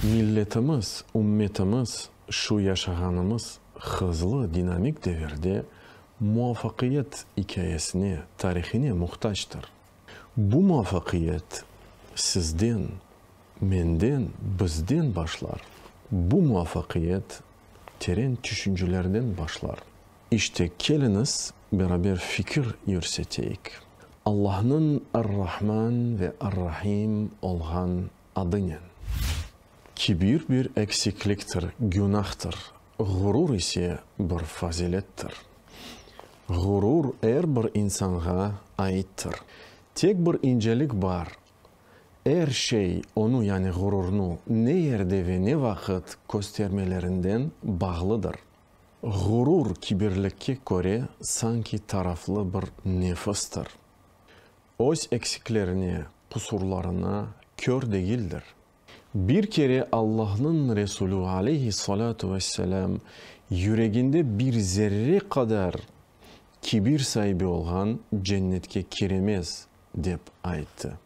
Milletimiz, ümmetimiz şu yaşağanımız hızlı, dinamik devirde muvafaqiyet ikâyesine, tarihine muhtactır. Bu muvafaqiyet sizden, menden, bizden başlar. Bu muvafaqiyet teren tüşüncelerden başlar. İşte, keliñiz, beraber fikir yürseteyik. Allahnıñ Ar-Rahman ve Ar-Rahim olğan adınen kibir bir eksikliktir, günâhtır, Ğurur ise bir fazilettir. Ğurur er bir insanğa aittir. Tek bir incelik bar, er şey onu, yani ğururnu, ne yerde ve ne vaqıt köstermelerinden bağlıdır. Ğurur kibirlikke köre sanki taraflı bir nefistir. Öz eksiklerine, qusurlarına kör degildir. Bir kere Allahnıñ Resulü aleyhi salâtu ve selâm yüreginde bir zerre qadar kibir saibi olğan cennetke kiremez, dep ayttı.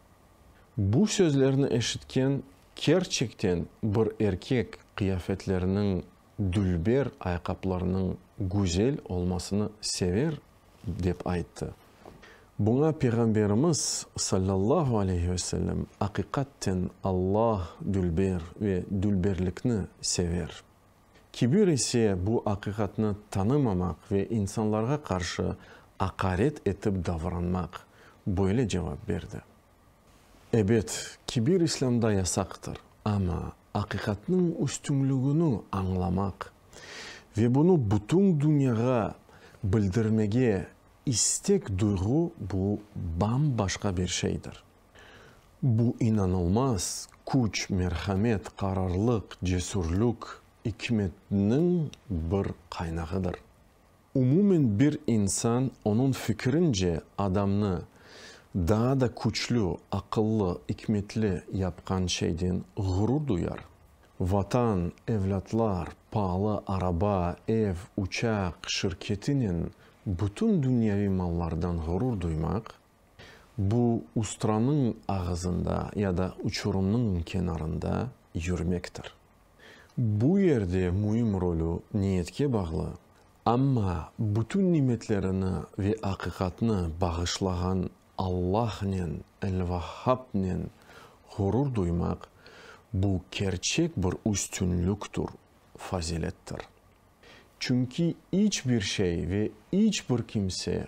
Bu sözlerni eşitken kerçekten bir erkek qıyafetleriniñ Dülber ayqaplarnıñ güzel olmasını sever, dep ayttı. Buña Peyğamberimiz, sallallahu aleyhi ve sellem, aqiqatten Alla dülber ve dülberlikni sever. Kibir ise bu aqiqatnı tanımamaq ve insanlarğa qarşı aqaret etip davranmaq, böyle cevap berdi. Ebet, kibir İslâmda yasaqtır, amma aqiqatnıñ üstünligini añlamaq ve bunı bütün dünyağa bildirmege istek duyğu bu bam-başqa bir şeydir. Bu inanılmaz küç, merhamet, qararlıq, cesürlük, ikmetniñ bir qaynağıdır. Umumen bir insan, onıñ fikirince, adamnı daa da küçlü, aqıllı, ikmetli yapqan şeyden ğurur duyar. Vatan, evlâtlar, paalı araba, ev, uçaq, şirketinen bütün dünyaviy mallardan ğurur duymaq, Bu ustranıñ ağızında ya da uçurımnıñ kenarında yürmektir. Bu yerde müim rolü niyetke bağlı, amma bütün nimetlerini ve aqiqatnı bağışlağan Allahnen, El-Vahhabnen, ğurur duymaq, bu kerçek bir üstünlüktur, fazilettir. Çünki iç bir şey ve iç bir kimse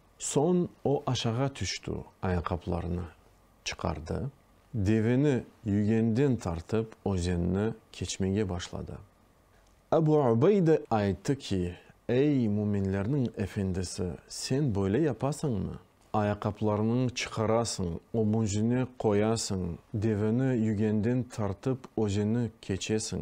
Soñ o aşağa tüştü, ayaqaplarını çıqardı, deveni yügenden tartıp özenni keçmege başladı. Abu Ubeyde ayttı ki, Ey, müminlerniñ efendisi, sen böyle yapasıñmı? Ayaqaplarını çıqarasıñ, ömüzüne qoyasıñ, deveni yügenden tartıp özeni keçesiñ.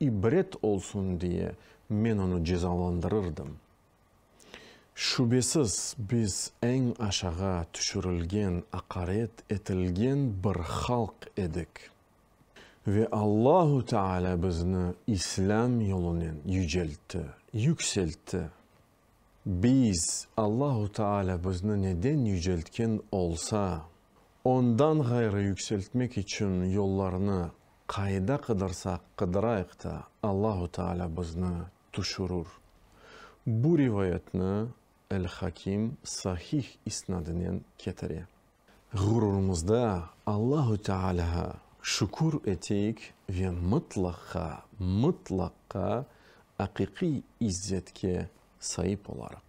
İbret olsun diye men onı cezalandırırdım. Şübesiz, biz eñ aşağı tüşürilgen, aqaret etilgen bir halq edik. Ve Allahu Teala bizni İslâm yolunen yüceltti, yükseltti. Biz, Allahu Teala bizni neden yüceltken olsa, Ondan ğayrı yükseltmek içün yollarnı Qayda qıdırsaq qıdırayıq ta, Allahu Teala bizni tüşürür. Bu rivayetni El-Hakim sahih isnadinen ketire. Ğururımızda Allahu Tealâğa şükür eteyik ve mıtlaqqa, mıtlaqqa aqiqiy izzetke saip olarıq.